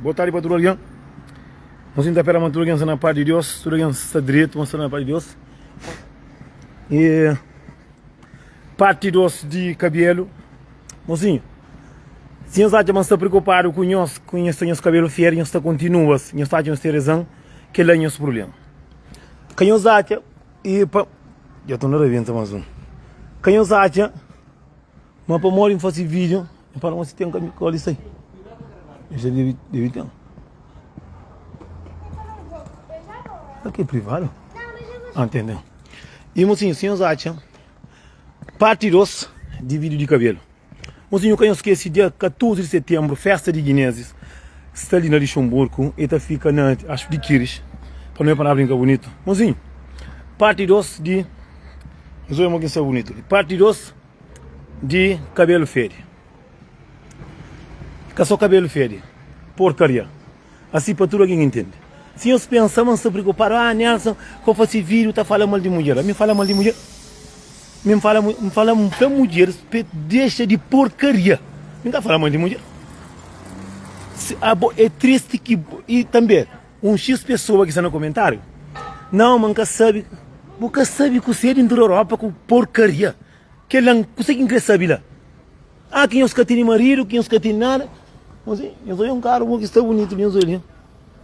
Boa tarde pa tudo alguém Nós sinta pera ma tudo alguém sta na parte de Deus Tudo alguém sta direito mas sta na parte de Deus E parte 2 de cabelo Mocinho Se nhos acha ma sta preocupado com nhos Com nhos sta nhos cabelo fier Nhos sta continua Nhos acha nhos tem razão Que lá nhos problema Que nhos acha E pa Já tô na rabenta mais um Que nhos acha Ma pa modi fasi vídeo N fala ma si ten kanbi kóli sai e sa debi debi ten sa ki é privado ah ten ten i mosinhu si nhos atxa parti 2 di vídiu di kabelu mosinhu ka nhos skese dia 14 di setenbru festa di guinezis sta li na lixonburku e ta fika na ax di kiris pa nu bai pa na brinka bunitu mosinhu parti 2 di nhos obi ma ki sta bunitu li parti 2. Di kabelu fedi. Ka so kabelu fedi, porkaria. Asi pa tudu algin intendi. Si nhos pensa ma N sta preokupadu, ah Nelson ka bu fase vidiu ta fala mal di mudjer. Ami N fala mal di mudjer? Mi N fala, N fala pa mudjer pa e dexa di porkaria. Mi N ka fala mal di mudjer. Abo e tristi ki bo, i tanbe. Un xis pesoa ki sta na komentáriu, Nau, ma N ka sabe. Bu ka sabe kusé di ntra Europa ku porkaria? Kel la, kusé ki N krê sabe la? Ah, ki nhos ka tene maridu, ki nhos ka tene nada. Mozinhu, nhos odja un karu ki sta bunitu li, nhos odja li.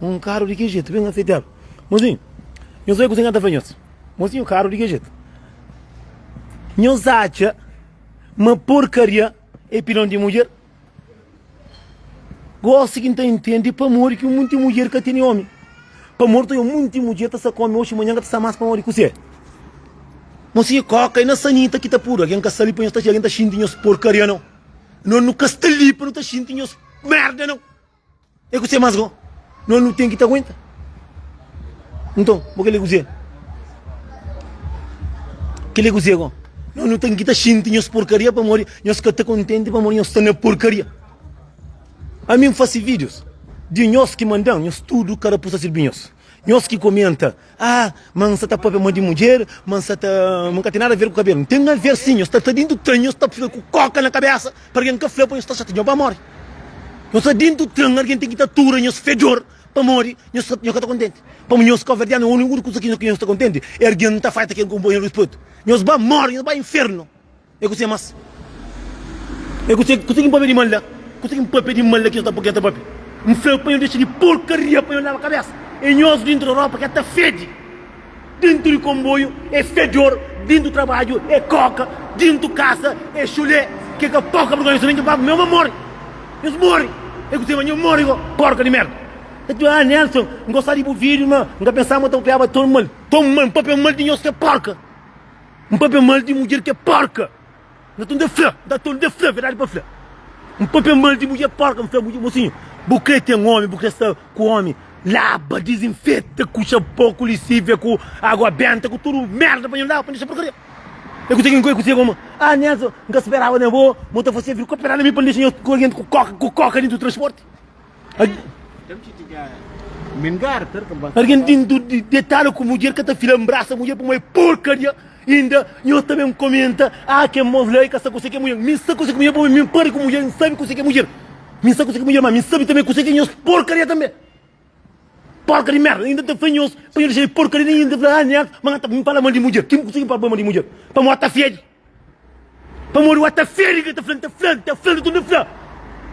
Un karu di ki jetu, ben afetadu. Mozinhu, nhos odja kusé ki N ta fla nhos. Mozinhu, karu di ki jetu. Nhos atxa ma porkaria é pilon di mudjer? Gosi ki nta intende pamodi ki munti mudjer ka tene omi. Pamodi ta munti mudjer ta sa ku omi oxi manhan ka ta sa mas pamodi kuse. Mo si koka e na sanita ki ta pudu algen ka sa li pa nhos ta xinti nhos porkaria no. No nu ka sta li pa nu ta xinti nhos merda no. E kuse mas go no nu ten ki ta aguenta? Nton, bo kile kuse? Kile kuse go? No nu ten ki ta xinti nhos porkaria pamodi nhos ka ta kontenti pamodi nhos sta na porkaria. Ami N fasi vídios di nhos ki manda-m, nhos tudu ka rapusa sirbi nhos. Nhos ki komenta, Ah, ma N sta ta pâpia ma di mudjer, ma N sta ta. Ma N ka ten nada aver ku kabelu. N ten aver si, nhos sta ta dintu tren, nhos sta fla ku kóka na kabésa pa algen ka fla pa nhos sta xatia, nhos ba móre. Nhos sta dintu tren, algen ten ki ta tura nhos fedjor pamodi nhos ka ta kontenti. Pamodi nhos kaverdianu é uniku kuza ki nhos ta kontenti é algen ta faita kel konpanheru di spetu. Nhos ba móre, nhos ba infernu. É kuzê más? É kuzê ki N pâpia di mal la? Kuzê ki N pâpia di mal la ki es ta pô-m pâpia? N fla-u pa N dexa di purkaria, pa N laba kabésa. É nhozu déntu di rópa ki é ta fede, déntu di konboiu é fedor, déntu trabadju é kóka, déntu kasa é xulé. Ke ka poka vergonha so, nen ke baba-m, nha aba móre. Nhos móre. É kuzê más? Nhos móre go, pórka di mérda. N fla, Ah, Nelson, N gosta di bu vídiu, má N ka pensaba ma N ta papiaba ton mal. Ton mal? N pâpia mal di nhos, ke pórka! N papia mal di mudjer ki é porka. N ta tenta fla, N ta tenta fla, verdadi pa fla. N papia mal di mudjer porka, N fla mudjer, mosinhu, bu krê ten ómi, bu krê sta ku ómi, laba, dizinfeta ku xanpon, ku lisívia, ku água benta, ku tudu merda pa nha laba, pa N dexa porkaria. É kuzê ki N kuzê koma? Ah, Nelson, N ka speraba na bo, ma N ta fase-l vir koperá na mi pa N dexa nha klienti ku kóka, ku kóka, dentu di transporti. Argen ten di detala ku mudjer ka ta fila nbrasa mudjer pamó é porkaria inda nho ta ben komenta ah ken bo fla e ka sta kuse ke mudjer mi sta kuse ke mudjer pamó mi npare ku mudjer nsabe kuse ke mudjer mi sta kuse ke mudjer ma mi nsabe tanbe kuse ke nhos porkaria tanbe porka di merda inda ta fla nhos pa nho dexa de porkaria inda ta fla ah neat ma nha ta ben fala mal di mudjer kin kuse ki npode poi mal di mudjer pamó ta fedje. Pamodi wa ta fede ki el ta fla, N ta fla, N ta fla, tudu N ta fla.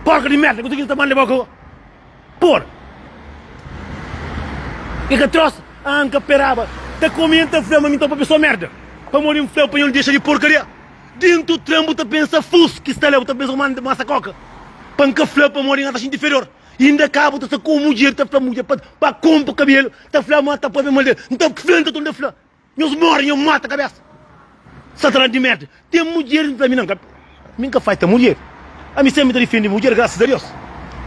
Porka di merda, kutu ki ki ta ban di boka. Por. E ka trosa, ah, N ka peraba. Ta komi N ta fla, ma mi topa pesoa merda. Pamodi N fla, panhol dexa di porkaria. Dentu tren bu ta pensa fus ki sta la, bu ta pensa kuma N ta masa koka. Pa N ka fla, pamodi N ka ta xinti inferior. Inda ka bu ta sta ku un mudjer ta fla mudjer pa, pa konpa kabelu, ta fla ma ta pabia mal del. N ta fla, N ta tunda fla. Nhos morre nho mata cabeça satanan de merda tem mulher nta mi nan ami nka fai ta mulher ami sempre ta defende mulher graças a Deus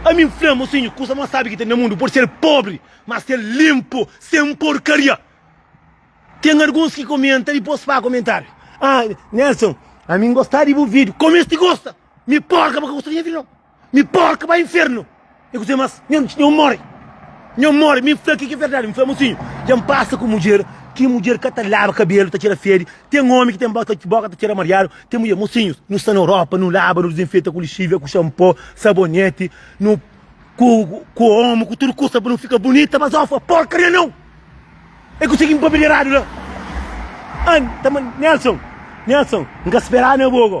ami nfla mosinho cusa mas sabe que tem na mundo pode ser pobre mas ser limpo sem porcaria tem alguns que comenta depois faz comentário ah Nelson ami ngosta de bu video começa de gosta mi porca pa ka gosta de nha video não. Mi porka pa infernu e kuzê mas nhon mori nhon mori mi fla kiki verdadi mi fla mosinhu dja n pasa ku mudjer ki mudjer ka ta laba kabelu ta txera fedi ten omi ki ten boka ta txera mariadu ten mudjer mosinhus nu sta na europa nu laba nu dizinfeta ku lixivia ku xanpo saboneti nu ku ku omu ku tudu kusa pa nu fika bunita mas ofa porkaria nau e kuzê ki n papia di eradu la an ta ma nelson nelson n ka speraba na bo ko.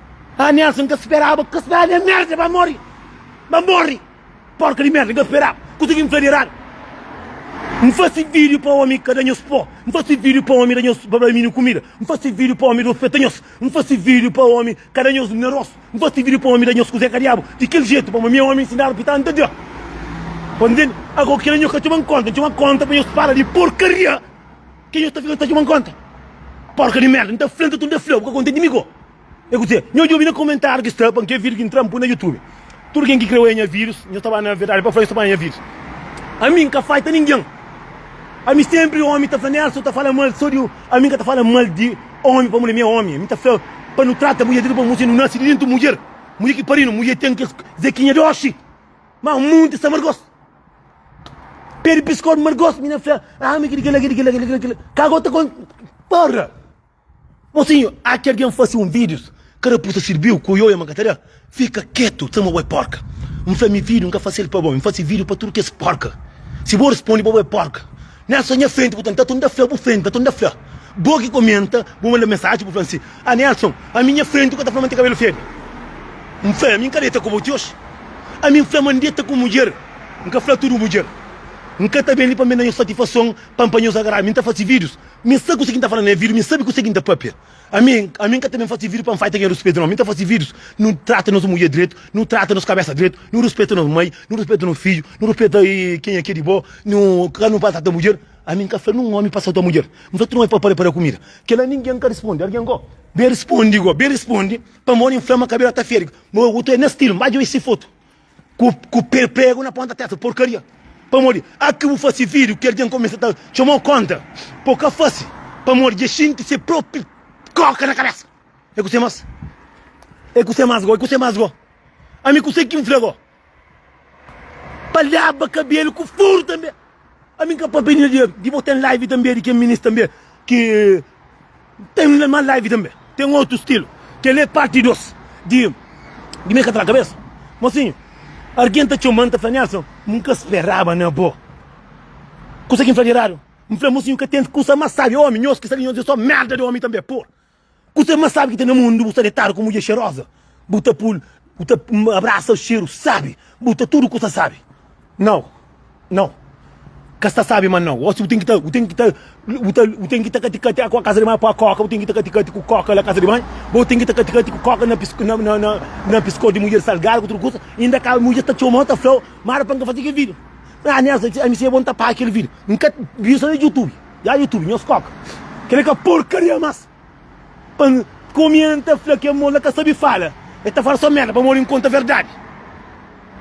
Ah Nelson ka speraba ku kes bra de merda ba morri ba morri porca di merda ka speraba kusa ki N fla di eradu N fasi video pa omi ka da nhos po N fasi video pa omi da nhos ba ba mini kumida N fasi video pa omi da ofeta nhos N fasi video pa omi ka da nhos mineros N fasi video pa omi da nhos kuze ka diabu di kel jetu pamo mi omi nsinadu pita N ta da Pode ntende ago kila nhos ka txoba-m konta N txoba konta pa nhos fala di porkaria. Ke nhos ta fika ta txuman konta? Porka di merda, N ta fla-m ta tudu, N ta fla-u, bu ka kontenti mi ko? E kuzê? Nhos djobe na komentáriu ki sta pa N ke vídiu ki N tra N pui na Youtube. Tudu ken ki kreu anha vírus, nhos ta ba na Verdadi pa Fla nhos ta ba anha vírus. Ami N ka faita ningen. Ami sénpri ómi ta fla Nélson ta fala mal so di ami N ka ta fala mal di ómi pamodi ami é ómi. Ami ta fla pa nu trata mudjer direitu pamodi mos é nu nase di déntu mudjer. Mudjer ki parinu, mudjer ten kes zekinha doxi. Má munti sta margosu. Pede piskon mal gosto mina fla ah mi kidi kila kidi kila kila kila ka gota kon para mosinho há que alguém fazer um vídeo cada puta serviu com yoia mancatara fica quieto sama boi porca um fla mi vídeo nunca fazer para bom fazer vídeo para tudo que é porca se bom responde para boi porca Nel sta nha frenti purtantu atu nta fla bu frenti atu nta fla bo ki komenta bu manda mensaji bu fla si ah Nelson ami nha frenti ku ta fla ma N ten kabelu febi N fla ami N ka deta ku bo ti oji ami N fla ma N deta ku mudjer N ka fla tudu mudjer N ka ta ben li pa N ben da nho satifason pa N panha-s agradu mi N ta fasi vidius mi sta kuse ki N ta fla na nha vidiu mi sabi kuse ki N ta papia. Ami, ami nka ta ben fase vídeo pa nfai ta gen ruspetu nau, mi ta fase vídeos nu trata nos mudjer dretu, nu trata nos kabesa dretu, nu ruspeta nos mai, nu ruspeta nos fidju, nu ruspeta ken é ke di bo, nu ka nu maltrata mudjer, ami nka fla nun omi pa salta mudjer, nfla tudu omi pa para para kumida, kela ningen nka risponde, argen go ben risponde go, ben risponde pamodi nfla ma kabela ta fede, ma otu é na stilu, nba dja oi si fotu. ku ku pregu na ponta testa porcaria pamodi a ki bu fasi video ki algen começa ta txomau contra po ka fasi pamodi dja xinti se propi coca na cabeça e kusé mas e kusé mas go e kusé mas go ami kusé kin fla go pa laba cabelo ku furu tanbe Ami n ka papia di dinheru di bo ten live tanbe di ken minis tanbe ki ten mas live tanbe ten otu stilu keli é parti 2 di di mi ka tra kabesa mosinhu argen ta txoman ta fla Nelson mi n ka speraba na bo kusa ki n fla di eradu n fla mosinhu ka ten kusa mas sabi omi nhos ki sta li nhos di so merda di omi tanbe pur. Ku se ma sabi ki ta na mundu bu sta detadu ku mudjer xeroza bu ta pul bu ta abrasa xeru sabi bu ta tudu kusa sabi nau nau ka sta sabi ma nau osi bu ten ki ta bu ten ki ta bu ta bu ten ki ta kati kati aku a kaza di mai pua koka bu ten ki ta kati kati ku koka la kaza di mai bo ten ki ta kati kati ku koka na pis na na na na piskos di mudjer salgadu ku tudu kusa inda ka mudjer ta txomau ta flau ma ada pa n ka faze kel video ah nel ami sibi é bo n ta paga kel video n ka viu so na jutubi. Ya YouTube nhos koka kel li ka porkaria mas pa N komenta fla ke mos la ka sabi fala e ta fala so merda pamodi N konta verdadi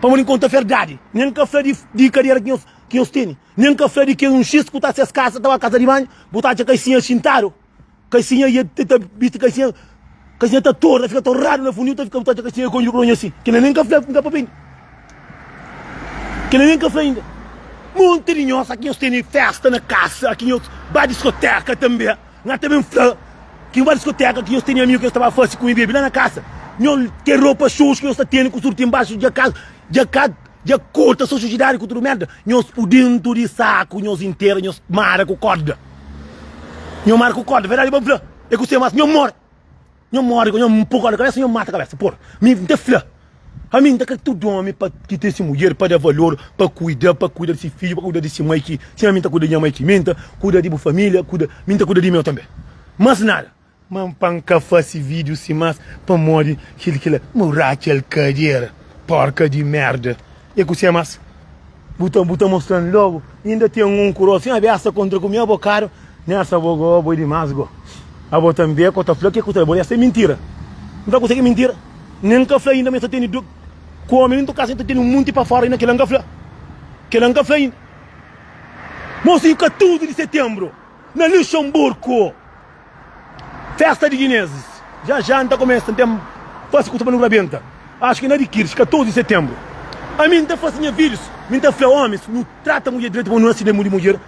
pamodi N konta verdadi nen N ka fla di di kadera ki nhos teni nen N ka fla di kes un xis ku ta ses kasa ta ba kasa di banhu bu ta atxa ka i sinha xintadu Kaxinha ia ta ta bisti kaxinha kaxinha ta tor ta fika torradu na fundu eu ta fika ta kaxinha konju pa oña si kila nem ka fla fla papia inda kila nem ka fla inda monti di nhos aki nhos teni festa na kasa aki nhos ba diskoteka tambi nha ta bem fla ki nhos ba diskoteka aki nhos teni amigu ki nhos ta ba fasi ku mi bebe la na kasa nhos ke ropa xoxu ki nhos ta teni ku surti embaxu dja ka dja ka. Dja korta so sujidadi ku tudu merda nhos pu dentu di saku nhos intera nhos mara ku korda nho mara ku korda verdadi ba fla e ku se mas nho mori nho mori ku nho pu korda kabesa nho mata kabesa por mi nta fla ami nta kre tudu omi pa ki ten si mudjer pa da valor pa kuida pa kuida di si fidju pa kuida di si mai ki sima mi nta kuida di nha mai ki mi nta kuida di bu familia kuida mi nta kuida di meu tanbe mas nada. Ma N pa N ka fase vídiu si más pamodi kel ki la. Mo Raquel Kadier porca di merda e ku se más bu ta bu ta mostra-m logo inda ten um ku rosin abessa contra ku mi abocado nessa abo go abo é demais go abo ta nbê ko ta fla ke ku ta bo essa é mentira N ta kuse ke mentira nem N ka fla inda ma essa teni do ku homem dentro casa inda teni um monte pa fora inda kela N ka fla kela N ka fla inda mo sibi 14 de setembro na Luxemburgo. Festa di Guinezes dja dja N ta komesa ten fase kusa pa nu rabenta Acho ki na di kids 14 di setembro Ami N ta fase nha vidjos mi N ta fla Omis nu trata mudjer direito pamodi nu naside mu di mudjer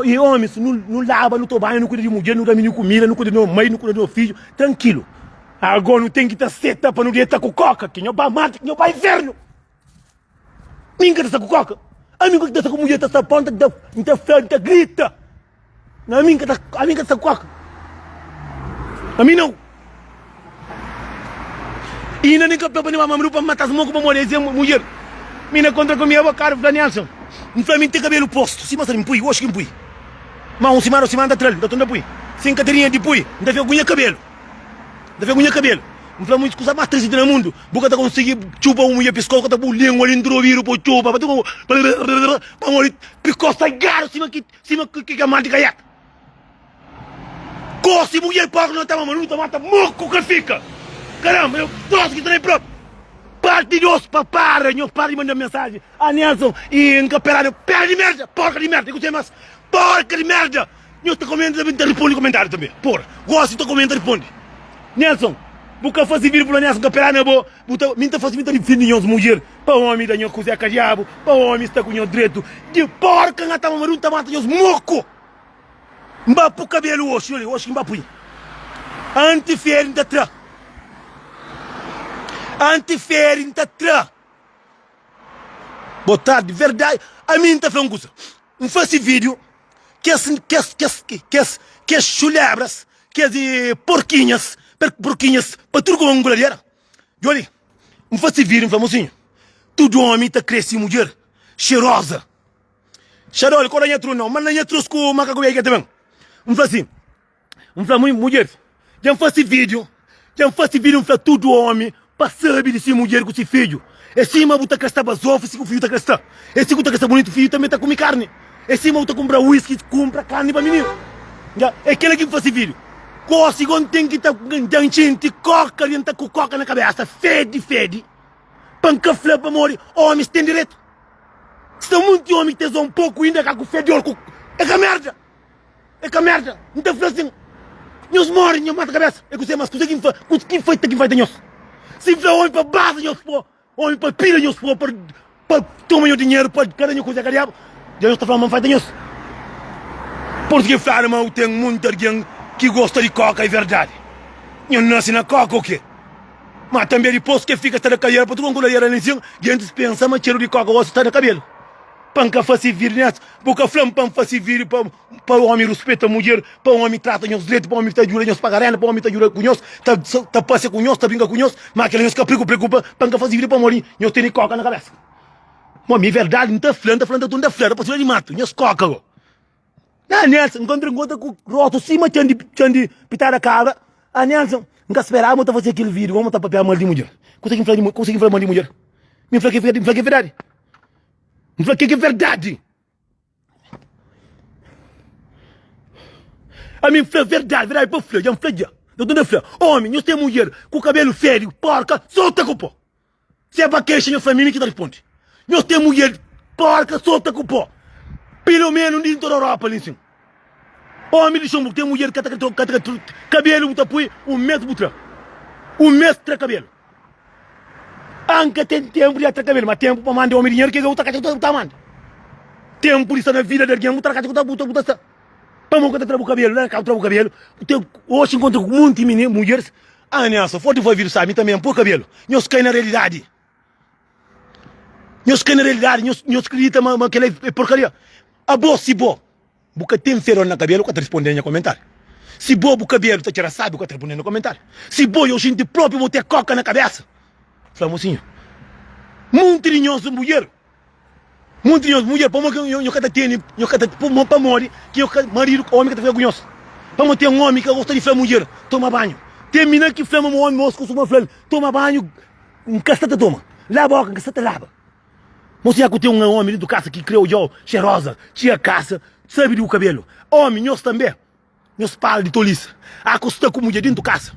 E omis nu nu laba nu to banha nu kuida di mudjer nu da mini kumida nu kuida di no mai nu kuida di no fidjo trankilu Ago nu ten ki ta seta pa nu deta ku koka ki nho ba marte ki nho ba infernu. Mi nka ta sta ku koka. Ami nka ta sta ku mudjer ta sta ponta ta nta fla nta grita. Na ami nka ta ami nka ta sta ku koka. Ami nau. E inda nka pla pa ni ba mamadu pa mata smoku pa modi ese mudjer. Mi na kontra ku mi abokadu fla Nelson. N fla mi nte kabelu postu. Si mostra mi pui oxi ki npui. Ma un simana dos simana nta tral nta tunda pui. Si nka ta rinha di pui nta fika ku nha kabelu. Nta fika ku nha kabelu. Nfla mu skusa mas trisi di na mundu. Bu ka ta konsigi txupa un mudjer piskos, ka ta pô-u lingua dentru di obidu pô-u txupa, pa ti ku brrrr pamodi piskos ta igadu sima ki sima ki kamal di kaiaka. Gosi mudjer pârdu na tama, ma nu ta mata murku ka fika. Karanba, eu gosi ki ta na e propi. Parti dos, pa para, nhos para di manda mensaji a Nelson y N ka peradu, pera di merda, porka di merda, i ku se mas, porka di merda. Nhos ta komenta tanbe, N ta riponde komentáriu tanbe. Por gosi, N ta komenta riponde. Nelson, Bu ka fasi vidi Pulonias N ka pela na bo, bu ta, mi N ta fasi, mi ta difindi nhos mudjer pa omi da nhos kuzé ka diabu, pa omi sta ku nhos dretu di porka N ataba ma N ta mata nhos moku N ba pu kabelu oxi, olha, oxi ki N ba pui anti feri N ta tra anti feri N ta tra bo tardi verdadi ami N ta fla un kuza. N fase vídiu, kes, kes, kes, kes, kes xulebras, kes porkinhas, per, porkinhas pa tudu kuma nguladiera. Djoli, N fase vídiu, N fla, Mosinhu, tudu omi ta kre si mudjer xeroza. Xadoli, Kau da nha trus, nau, manda nha trus ku makaku beiga ta ben. N fla si. N fla mui mudjeris, dja N fase vídiu, dja N fase vídiu N fla tudu ómi pa sabe di si mudjer ku si fidju. É sima bu ta krsta bazofu si ku fidju ta krsta. É si ku ta krsta bunitu fidju tanbe ta kume karni. É sima bu ta kunpra wiski kunpra karni pa mininu. Nha, é kela ki N fase vídiu. Gosi go N ten ki ta, dja N xinti kóka dja N ta ku kóka na kabésa fedi fedi pa N ka fla pamodi ómis ten diretu. Sta munti ómi ki ta izau un poku inda ka ku fedor ku, é ka merda. E ka merda, N ta fla sin, Nhos mori, nhos mata kabésa. E kuzê más? Kuzê ki N faze? Kuzê ki N faze ta ki N faze ta nhos? Si N fla omi pa basa nhos fo, omi pa pida nhos fo, pa, pa toma nhos dinheru, pa ka da nhos kuzê, ka diabu? Dja nhos ta fla ma N faze ta nhos. Portugues fladu ma u ten munti argen ki gosta di koka, e verdadi. Nhos nase na koka o kê? Má tanbê dipos ke fika sta da kaliera pa tudu kon ku lariera nen sin, gentis pensa ma txeru di koka gosi sta na kabelu. Pa N ka fase vidi nes, Bo ka fla-m pa N fase vídiu pa ómi ruspeta mudjer, pa ómi trata nhos dretu, pa ómi ta djuda nhos paga rénda, pa ómi ta djuda ku nhos, ta pasea ku nhos, ta brinka ku nhos? Má kel-la nhos ka preokupa. Pa N ka fase vídiu pamodi nhos tene kóka na kabésa. Bo, mi é verdadi, N ta fla, N ta fla, N ta tunda fla, rapás fla di matu, nhos kóka go. Nha Nelson, N kontra-m ku otu ku róstu sima txan di pitada kabra. A Nelson, N ka speraba bo ta fase kel vídiu, góma ta papia mal di mudjer. Kuzê ki N fla di mudjer? Mi fla ki é verdadi. N fla kel ki é verdadi. Ami N fla verdadi, verdadi pa fla dja N fla dja. Dotor ta fla, Omi, nhos ten mudjer ku kabelu fédiu, pórka, sota ku pó. Si é pa kexa nhos fla mi, mi ki ta responde. Nhos ten mudjer pórka, sota ku pó, pilomenu un di N ta da Europa li nsin. Omi di xon bu ten mudjer ka ta tra ka tra kabelu bu ta poi un mes bu tra un mes tra kabelu an ka ten tenpu di tra kabelu ma tenpu pa mande omi dinheru kega bu ta kaca bu ta mande tenpu di sta na vida di algin bu ta kaca bu ta bu ta sta pamo ka ta tra bu kabelu la na kazu tra bu kabelu bu ten osi inkontra ku monti mini mudjeris aniasa fo divolvidu sa mi tambi an po kabelu nhos kai na realidadi. Nhos krê na realidadi, nhos kridita ma kel-la é porkaria. Abo, si bo bu ka ten fedor na kabelu, ka ta responde na nha komentáriu. Si bo bu kabelu ta txera sábiu, ka ta responde na nha komentáriu. Si bo é ojenti própi, bo ten kóka na kabésa. Fla-m osi nha. Monti di nhos é mudjer. Monti di nhos mudjer, pamodi ki nhos ka ta tene, nhos ka ta, pamo, pamodi ki nhos ka, maridu, ka omi ka ta fika ku nhos? Pamo ten omi ki ka gosta di fla-m, mudjer, toma banhu. Ten mina ki fla-m, ma omi, ma kustuma fla-l, toma banhu, N ka sta ta toma. Laba oca, N ka sta ta laba. Mo siña ku ten un omi dentu kasa ki kre odja-u xeroza, txia kasa, sabe di bu kabelu. Omi, nhos tanbe, Nhos para di tolice a ku sta ku mudjer dintu kasa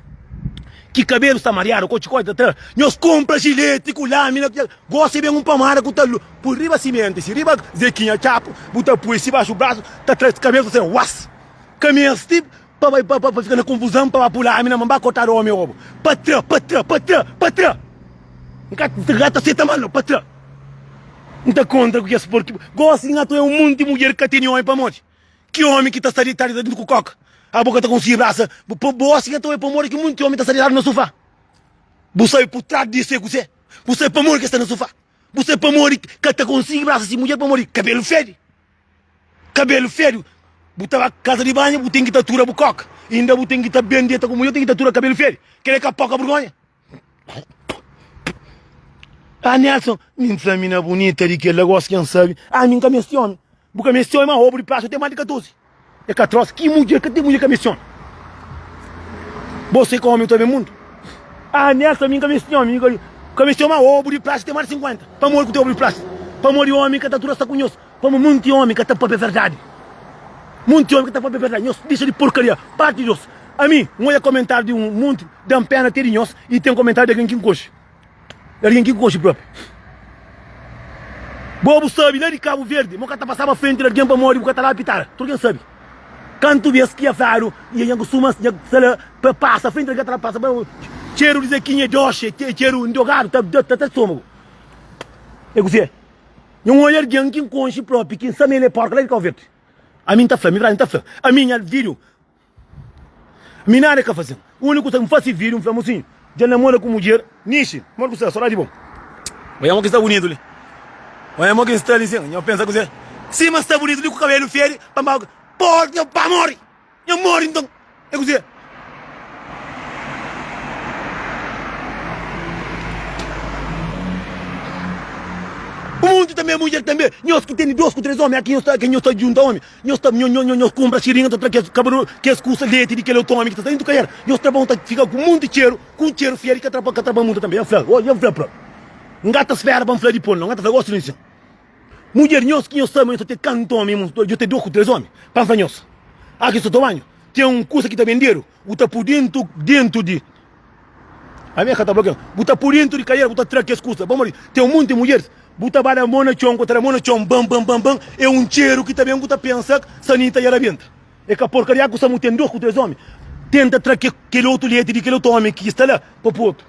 ki kabelu sta mariadu ku txikoti ta tra nhos konpra jileti ku lamina ku txeka gosi e ben un pamada ku ta pui riba simenti si riba zekinha txapu bu ta pui si baxu brasu ta tra kabelu ta tra was ka mesti pa bai pa fika na konfuzan pa ba pui lamina ma ba kotadu omi obu pa tra pa tra pa tra pa tra N ka N ka ta seta mal no pa tra N ta kontra ku kes porki gosi nha tu e un monti mudjer ka teni omi pamodi. Ki omi ki ta sta ditadu ta dintu ku koka a bu ka ta konsigi brasa bu pa bo osi nta oi pamodi ki munti omi ta sta ditadu na sufa bu sabe por tras disu e kuse bu sabe pamodi ke sta na sufa bu sabe pamodi ka ta konsigi brasa si mudjer pamodi kabelu fedi kabelu fedi bu ta ba kaza di banha bu ten ki ta tura bu koka inda bu ten ki ta ben dieta ku mudjer ten ki ta tura kabelu fedi kila e ka poka burgonha. Ah, Nelson, mi n fla mina bunita di kel-la, gosi ken sabe. Ah, mi n ka meste omi. Bu ka meste omi, ma obu di prasu ten más di 14. É ka tros, ki mudjer ka ten mudjer ka meste omi? Bo sai ka omi ta ben mundu? Ah, Nelson, mi n ka meste omi, mi ka meste omi, ma obu di prasu ten más di 50. Pamodi ku ten obu di prasu? Pamodi omi ka ta tudu sta ku nhos. Pamodi monti omi ka ta pâpia verdadi. Monti omi ka ta pâpia verdadi. Nhos dixa di porkaria. Pârti di nhos. Ami N odja komentáriu di un monti, da-m péna te di nhos y ten komentáriu di algen ki N konxe. Y algen ki N konxe própi. Bo bu sabi la di Kabu Verdi ma bu ka ta pasaba frenti di algen pamodi bu ka ta la apitara. Tudu algen sabi. Kantu bes ki nha fladu y nha kustuma nha fla pa pasa frenti di algen ta la pasa pamodi txeru di Zekinha é doxi, é txeru ndrogadu ta ta ta stômagu. É kuzê? Nhon ôi algen ki N konxe propi ki N sa ma el é porku la di Kau Verdi. Ami N ta fla, mi Brás N ta fla, ami nha vídiu mi nada ka faze-m. Úniku kusa ki N fase vídiu N fla mosinhu dja N namora ku mudjer Nishi, modi ku sta? Sodadi bo. Oi amo ki N sta bunitu li. Oi amo ki N sta li sin. Nha pensa kuzê? Sima N sta bunitu li ku kabelu fedi, pa N ba. Pô-l nha pamodi! Nha mori nton é kuzê? Munti tanbê mudjer tanbê nhos ku teni dos ku tres omi aki nhos ta nhos ta djunta omi nhos ta nho nho nhos kunpra siringa ta tra kes kabaru kes kusa leti di kel otu omi ki ta sai ntu kaer nhos tra bon ta fika ku munti txeru ku un txeru fia di ka tra pa ka tra pa munta tanbê nha fla nha fla pra nhata spera pa n fla dipô nhata fla gosi di nhos nha. Mudjer nhos ki nhos ta ama nhos ta ten kantu omi nhos ta ten dos ku tres omi pansa nhos a ki nhos ta toma banhu ten un kusa ki ta bendedu bu ta pui dentu dentu di ami e ka ta blokia nhos bu ta pui dentu di kadera bu ta tra kes kusa pamodi ten un monti mudjeris bu ta bada mo na txon ku ta da mo na txon ban ban ban ban e un txeru ki ta ben ku ta pensa sanita e rabenta e ka porkaria ku samu ten dos ku tres omi tenta tra ke kel otu leti di kel otu omi ki sta la pa pui otu.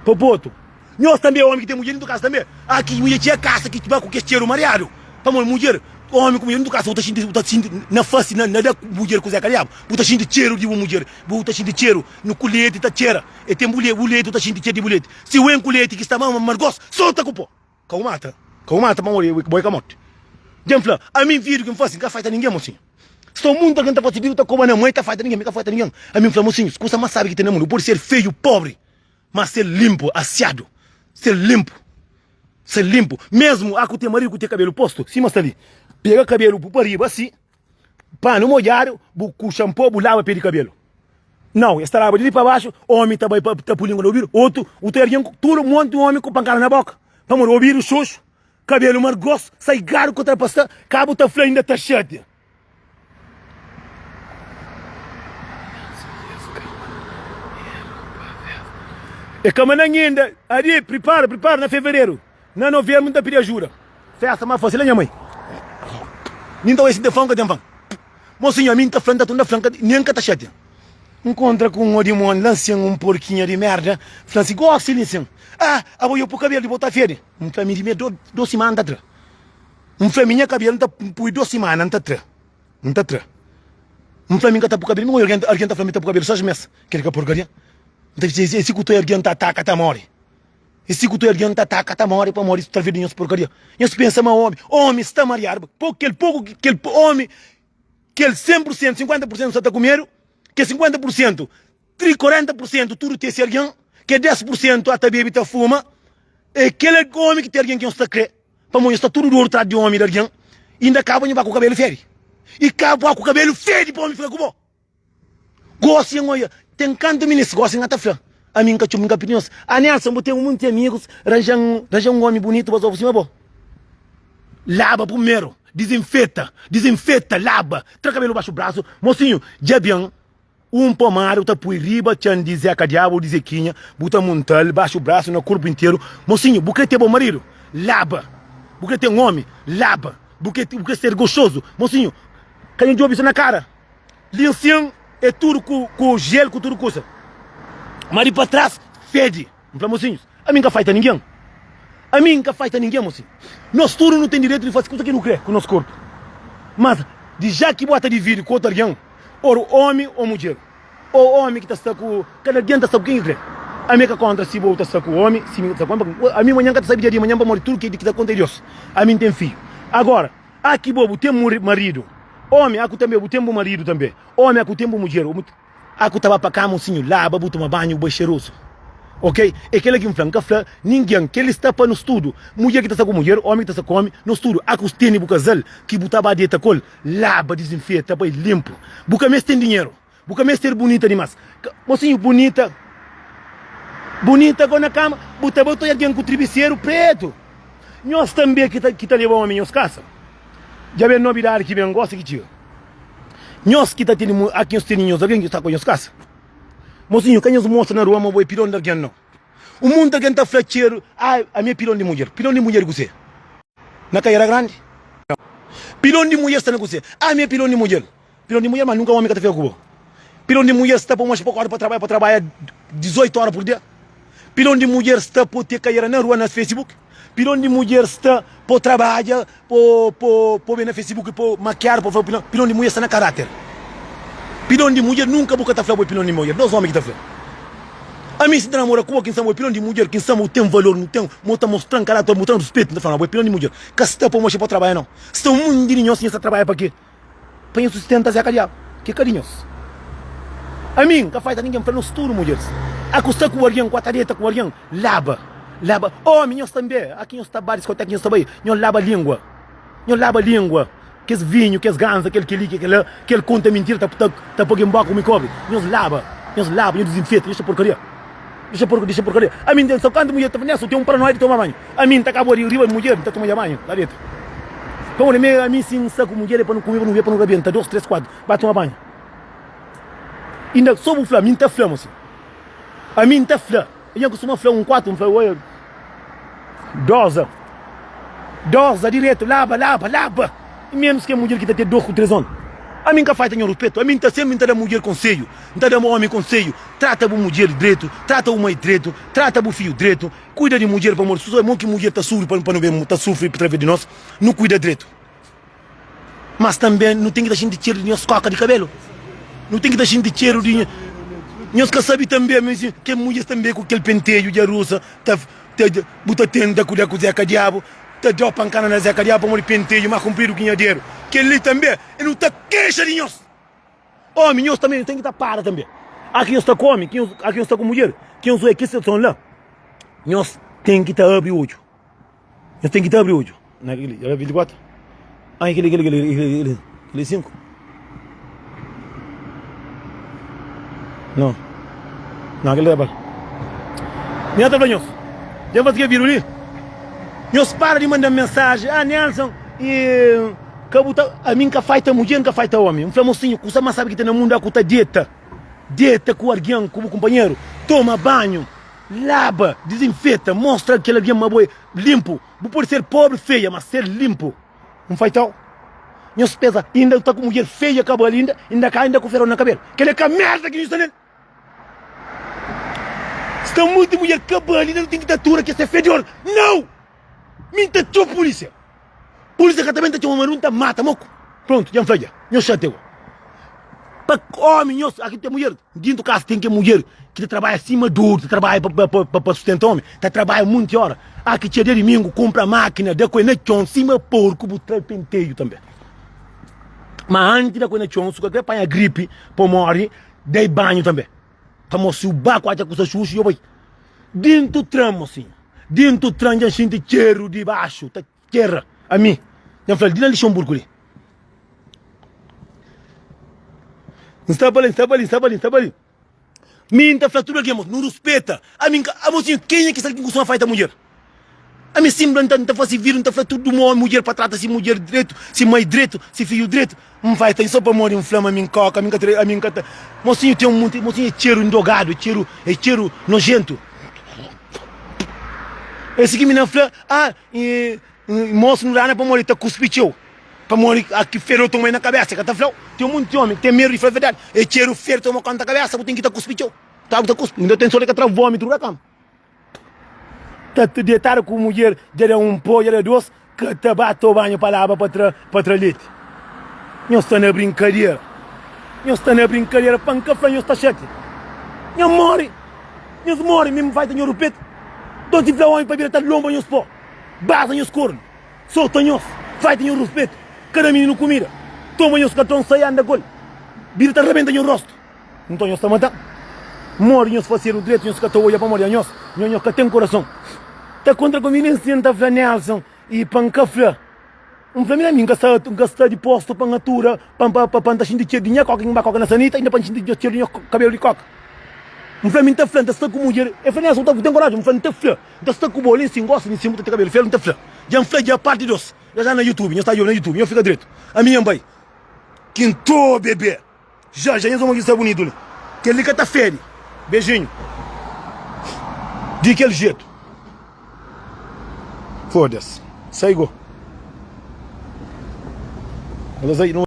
Pa botu. Nhos tanbe é omi ki ten mudjer dintru di kasa tanbe. A kes mudjer txia kasa ki ba ku kes txeru mariadu. Pamodi mudjer, omi ku mudjer dintru di kasa bu ta xinti, bu ta xinti na fasi, na da mudjer kuzé kaliabu. Bu ta xinti txeru di bu mudjer, bu ta xinti txeru nu ku leti ta txera. E tenpu le, bu leti bu ta xinti txeru di bu leti. Si wen ku leti ki sta ma amargos, sorta ku po. Ka bu mata, ka bu mata pamodi bo é kamote. Djen fla, ami vidu ki nfasi nka faita ningen mosinhu. Sta un mundu algen ta fasi vidu ta koba na mô e ta faita ningen, mi ka faita ningen. Ami nfla, mosinhu, si kusa mas sabi ki ten na mundu podi ser feiu, pobri, mas ser linpu, asiadu, ser linpu, ser linpu. Mesmu aku ten marigu ku te kabelu postu, sima sta li, pega kabelu, bu pa riba si, Panu modjadu bu ku xanpo bu laba pe di kabelu Nau, es ta laba di li pa baxu Omi ta bai pa ta pui lingua na obidu Otu, bu ta obi algin tudu monti omi ku pankada na boka Pamodi obidu xoxu, kabelu mar grosu, saigadu ku trapastá Ka bu ta fla inda ta xatia E ka mandanha inda Adi, pripara, pripara na fevereru Na novembro n ta pidi ajuda. Festa ma fasi la nha mai Nin ta oja si ten fau n ka ten fau Mo sinhor mi n ta fla n ta tunda fla Nin n ka ta xatia Nkontra ku un odimoni la n sen Un porkinha di merda fla-m si Gosi el insen Ah abo yo pui kabelu di bo ta fedi N fla mi di mi do dos simana n ta tra N fla mi nha kabelu n ta pui dos simana n ta tra N ta tra N fla mi n ka ta pui kabelu mi oja algen algen ta fla mi ta pui kabelu sas mes Kel ka porkaria N ta fla si ku ta oja algen ta ataka ta mori. E si ku tude algen ta ataka ta mori pamodi ta ve di nhos porkaria nhos pensa ma omi omi sta mariadu ba po kel poku ki kel omi kel 100 pur sentu 50 pur sentu sa ta ku medu ke 50 pur sentu tri 40 pur sentu tudu tesi algen ke 10 pur sentu a ta bebi ta fuma e kel omi ki ten algen ki nhos ta kre pamodi nhos sta tudu di oru trás di omi di algen inda ka bo nho ba ku kabelu fedi i ka bo ku kabelu fedi pa omi fika ku bo. Gosi nhos oia ten kantu minis gosi nha ta fla ami nka txup nka pidi nhos a Nelson bu ten munti amigus ranja ranja un omi bunitu pa zoba sima bo laba purmeru dizinfeta dizinfeta laba tra kabelu baxu brasu mosinhu dja ben un pomada bu ta pui riba txan di zeka diabu ou di zekinha bu ta muntal baxu brasu na kurpu interu mosinhu bu kre ter bo maridu laba bu kre ten omi laba bu kre bu kre ser goxozu mosinhu ka nha djobi so na kara. Linsin é tudu ku jel ku tudu kusa. Ma di pa tras fedi. N fla, Mosinhus, ami N ka faita ningen. Ami N ka faita ningen, mosinhu. Nos tudu nu ten direitu di fase kusa ki nu kre ku nos korpu. Mas di ja ki bo ta dividi ku otu algen, or omi o mudjer, o omi ki ta sta ku. Kada algen ta sta ku ken ki kre. Ami ka kontra si bo ta sta ku omi, si mi ta sta ku omi. Ami manhan ka ta sabi dja di manhan pamodi tudu kel ki ta konta é Dios. Ami N ten fidju. Agora. A ki bo, bu ten bu maridu. Omi, a ku tanbe bu ten bu maridu tanbe. Omi, a ku ten bu mudjer. Omi, a ku ta ba pa kama un sinhu, laba bu, tuma banhu, bu bai xerozu. Ok? É kel-la ki N fla. N ka fla ningen. Kel-li sta pa nos tudu. Mudjer ki ta sta ku mudjer, omi ki ta sta ku omi, nos tudu. A ku tene bu kazal ki bu ta ba deta ku el, laba, dizinfeta, bai linpu. Bu ka meste ten dinheru. Bu ka mester bunita dimas. Mosinhu bunita. Bunita go na kama. Bu ta ba toi algen ku tribiseru pretu. Nhos tanbe ki ta, ki ta leba omi nhos kasa. Dja ben nobidadi ki ben gosi ki txiga. Nhos ki ta tene, aki nhos tene nhos algen ki sta ku nhos kasa. Mosinhu ka nhos mostra na rua ma bo e pilon di algen nau. Un monti algen ta fla txeru, ah, ami e pilon di mudjer. Pilon di mudjer di kuse? Na kaiera grandi? Pilon di mudjer sta na kuse? Ah, ami e pilon di mudjer. Pilon di mudjer ma nunka omi ka ta fika ku bo Pilon di mudjer sta pa moxa pa korda pa trabadja pa trabadja 18 ora pur dia Pilon di mudjer sta po te kaiera na rua na facebook Pilon di mudjer sta po trabadja po po po ben na facebook po makiadu po fla pilon Pilon di mudjer sta na karater Pilon di mudjer nunka bu ka ta fla bo é pilon di mudjer dos omi ki ta fla Ami si ta namora ku bo ki N sa bo é pilon di mudjer ki N sa bo ten valor nu ten mo ta mostran karater mo ten ruspetu N ta fla ma bo é pilon di mudjer ka sta pa moxa pa trabadja nau sta un mundi di nhos nhas ta trabadja pa ke. Pa nhos sustenta Zé Kadiabu ki é ka di nhos Ami n ka falta ningen fla nos tudu mudjeris A ku sta ku algen ku a ta deta ku algen Laba, laba, omi nhos tanbe A ki nhos ta bai diskoteka nhos ta bai Nhos laba lingua, nhos laba lingua Kes vinhu, kes ganza, kel kel-li, kel kel-la Kel konta mintira ta poi gen bóka ku mikobi Nhos laba, nhos laba, nhos dizinfeta, nhos ta porkaria. Dixa porku, dixa porkaria. Ami N ten só kantu mudjer ta penesa, u ten un paranoia di toma banhu. Ami N ta kaba ri riba di mudjer, N ta toma ja banhu, la deta. Pa un amiga mi si N sta ku mudjer é pa nu kume, pa nu bebe, pa nu rabienta, dos, tres, kuatu, ba toma banhu. Inda so bu fla, mi N ta fla-m asin. Ami N ta fla, nha kustuma fla un kuatu, N fla, oia, Doza Doza diretu Laba Laba Laba I menus kel mudjer ki ta ten dos ku tres on Ami N ka falta nha ruspetu Ami N ta senpri N ta da mudjer konseju N ta da omi konseju Trata bu mudjer dretu Trata bu mai dretu Trata bu fiju dretu Kuida di mudjer pamodi suzamor ki mudjer ta sufri pa nu ben ta sufri través di nos nu kuida dretu. Mas tanbe nu ten ki ta xinti txeru di nhos kóka di kabelu. Nu ten ki ta xinti txeru di. Nhos ka sabe tanbe ma es. Kel mudjer tanbe ku kel penteju dja rusa ta. Bu ta tenta kuda ku Zeka Diabu, ta da-u pankada na Zeka Diabu pamodi penteju más kunpridu ki nha dedu. Kel-li tanbe é nu ta kexa di nhos. Ómi, nhos tanbe nu ten ki ta para tanbe. Óras ki nhos sta ku ómi, óras ki nhos sta ku mudjer, ki nhos oja kes situason la, nhos ten ki ta abri odju. Nhos ten ki ta abri odju na kel-li. Kel-la é 24. Ãh, i kel-li, kel-li, kel-li, i kel-li, kel-li? Kel-li é 5? Nau. Nau, kel-li é bal. Mi nhos ta fla nhos, dja N faze kel vídiu li, nhos para di manda-m mensaji, Ah, Nelson, i ka bu ta. Ami N ka faita mudjer, N ka faita ómi. N fla mosinhu, kusa más sábi ki ten na mundu, a ku ta deta. Deta ku algen, ku bu kunpanheru. Toma banhu. Laba, dizinfeta, mostra kel algen ma bo é linpu. Bu pode ser póbri, feia, má ser linpu. N fai tau. Nhos pensa, i inda sta ku mudjer feia ka bali inda, inda ka inda ku feron na kabelu. Kel é ka mérda ki nu sta nel. Sta monti mudjer ka bali inda nu ten ki ta atura kes fedor? Nau! Mi n ta txeu pulísia. Pulísia ka ta ben ta txeu-m, ma nu ta mata mo ku. Prontu, dja N fla dja. Nhos xatia go. Pa ómi nhos, aki ten mudjer. Dintu kasa ten kel mudjer ki ta trabadja sima duru, ta trabadja pa pa pa pa sustenta ómi, ta trabadja monti óra. Aki txeu dia dumingu, kunpra mákina, da ku el na txon sima porku, bu tra-l penteju tanbê. Ma antis da ku el na txon, su kalker panha gripi, pa o móre, da-i banhu tanbê. Amor si u ba ku atxa kusa xuxu yo bai Dintu tran mosinhu Dintu tran dja n xinti txeru di baxu ta txera ami Dja n flal di na Lixonburgu li N staba la n staba li n staba li n staba li Mi n ta fla tudu algen mosinhu nu ruspeta ami n ka Mosinhu kenha ki sa algen ku kustuma faita mudjer. Ami sinbla nta nta fasi vidu nta fla tudu mo mudjer pa trata si mudjer dretu si mai dretu si fiju dretu N vai ten so pamodi N fla ma mi N koka ami N ka tra ami N ka ta mosinhu ten un monti mosinhu é txeru ndrogadu é txeru é txeru nojentu é si ki mi na fla a i mosu nu dana pamodi ta kuspi txeu pamodi a ki fedu otu mai na kabesa e ka ta flau ten un monti omi ki ten medu di fla verdadi é txeru fedu toma konta kabesa bu ten ki ta kuspi txeu ta bu ta kuspi inda ten sori ka tra vomitu da kama. Ta ta detada ku mudjer dja da un po dja da dos ka ta ba to banhu pa laba pa tra pa tra leti nhos sta na brinkadera nhos sta na brinkadera pa nka fla nhos sta xatia nha mori nhos mori mi nfai ta nhoru petu dos di fla omi pa bira ta lonba nhos po baza nhos kornu sota nhos fai ta nhoru ruspetu ka da mininu kumida toma nhos katron sai anda gol bira ta rabenta nho rostu. Nton nhos ta mata-m. Modi nhos fasedu dretu, nhos ka ta odja pamodi anhos? Nho, nho ka ten kurason? Ta kontra ku mi li nsin, N ta fla Nelson, i pa N ka fla. N fla mi na mi, N ka sta, N ka sta dipostu pa N atura, pa, pa, pa, pa N ta xinti txedu di nha kóka ki N ba kóka na sanita, inda pa N xinti txedu di nha kabelu di kóka. N fla mi, N ta fla, N ta sta ku mudjer. El fla, Nelson, bu ten korajen? N fla, N ta fla, N ta sta ku bo, li nsin, N gosta di nsin, bu ta ten kabelu felu, N ta fla. Dja N fla dja parti dos. Dja sta na YouTube, nhos ta djobe na YouTube, nho fika dretu. Ami nha N bai. Kinto bebe. Xa xa nhos ôma ki sta bunitu li. Kel li ka ta fede. Bejinhu. Di kel jetu. Foda-s. Sai go. N ta sai.